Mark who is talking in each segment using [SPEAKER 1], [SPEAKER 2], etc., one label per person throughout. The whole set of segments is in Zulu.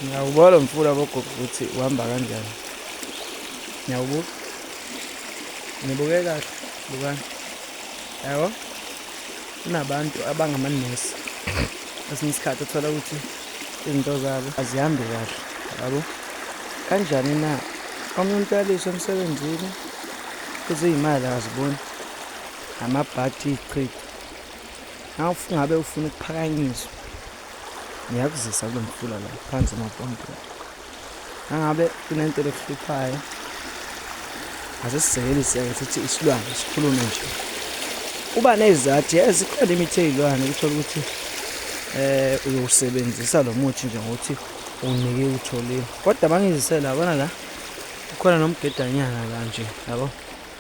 [SPEAKER 1] Ngiyawubuka lo mfula bogogo ukuthi uhamba kanjani. Ngiyawubuka. Ngibuke kahle, bukani. Yabo? Kunabantu abangamanesi. Kwesinye isikhathi uthola ukuthi izinto zabo azihambi kahle. Yabo? Kanjani na? Omunye umuntu uyaliswa emsebenzini, futhi iy'mali akaziboni. Amabhadi iy'chitho. Nawe ngabe ufuna ukuphakanyiswa. ngiyakuzisa kulo mfula la phansi emapondweni nangabe kunento lekuhluphayo ase sisekelise-ke sithi isilwane sikhulume nje uba nezizathu ye zikhona imithi eyilwane ukuthola ukuthi eh uyowusebenzisa lo muthi nje ngokuthi unike utholile kodwa bangizisela abona la ukhona nomgedanyana la nje yabo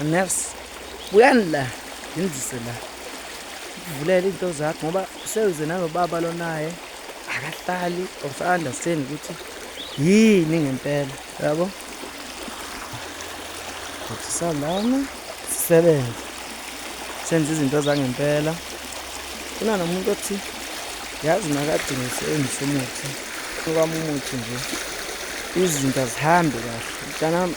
[SPEAKER 1] Nurse, buyani la ngenzise la ukuvulele into zakho ngoba sewuze nalobaba lonaye akahlali or sa-understand ukuthi yini ngempela yabo kuthi salana sisebenze senze izinto zangempela kunana umuntu othi yazi nakadinga usebenzisa umuthi okwami umuthi nje izinto azihambi kahle mntanami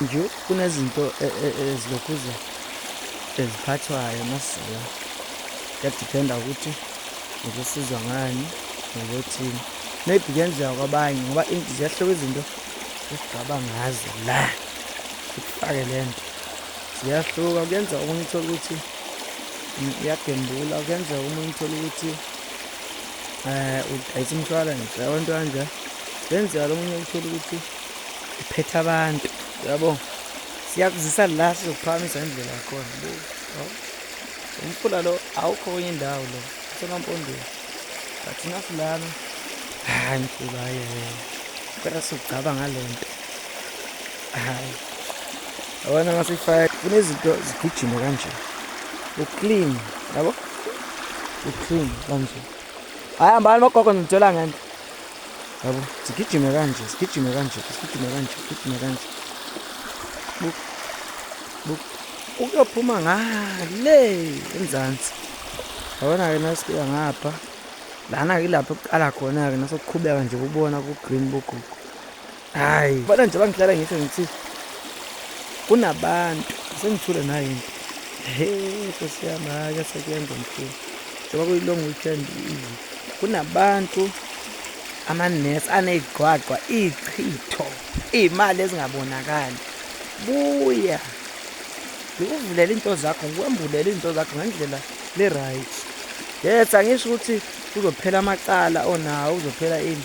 [SPEAKER 1] Nje kunezinto e, e, e, ezilokhu eziphathwayo masizela kuyadiphenda ukuthi ukusizwa ngani nokuthini maybe kuyenzeka kwabanye ngoba ziyahluka izinto esigaba ngazo la sikufake le nto ziyahluka kuyenzeka omunye uthole ukuthi iyagembula kuyenzeka omunye uthole ukuthi um udayisa umshwalense abantu kanje kuyenzeka lo munye uthole ukuthi iphetha abantu yabo siyakuzisa la sizokuphakamisa indlela yakhona umfula lo awukho kwenye indawo lo usemampondweni but nafu lana hayi mfula ye kodwa sugcaba ngale nto hayi abona ngasifaya kunezinto zigijima kanje uclean yabo uclean kanje hayi hambani bogogo niditshela ngento yabo sigijime kanje sigijime kanje sigijime kanje sigijime kanje buk buk ukuyophuma ngale enzansi yabona-ke nasifika ngapha lana-ke ilapho kuqala khona-ke nasokuqhubeka nje kubona ku-green bogugu hayi bona nje bangihlala ngithe ngithi kunabantu sengithule nayo into he nkosi yami hhayi asekuyenza mkhulu njengoba kuyi-long weekend kunabantu amanesi aney'gqwagqwa iy'chitho iy'mali ezingabonakali buya ngikuvulela into zakho ngikwembulela into zakho ngendlela le-right yes angisho ukuthi kuzophela amacala onawo kuzophela ini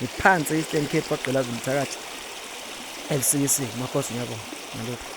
[SPEAKER 1] ngiphansi eastern cape kwagqilaza umthakathi fcc makhosi ngiyabonga ngalokhu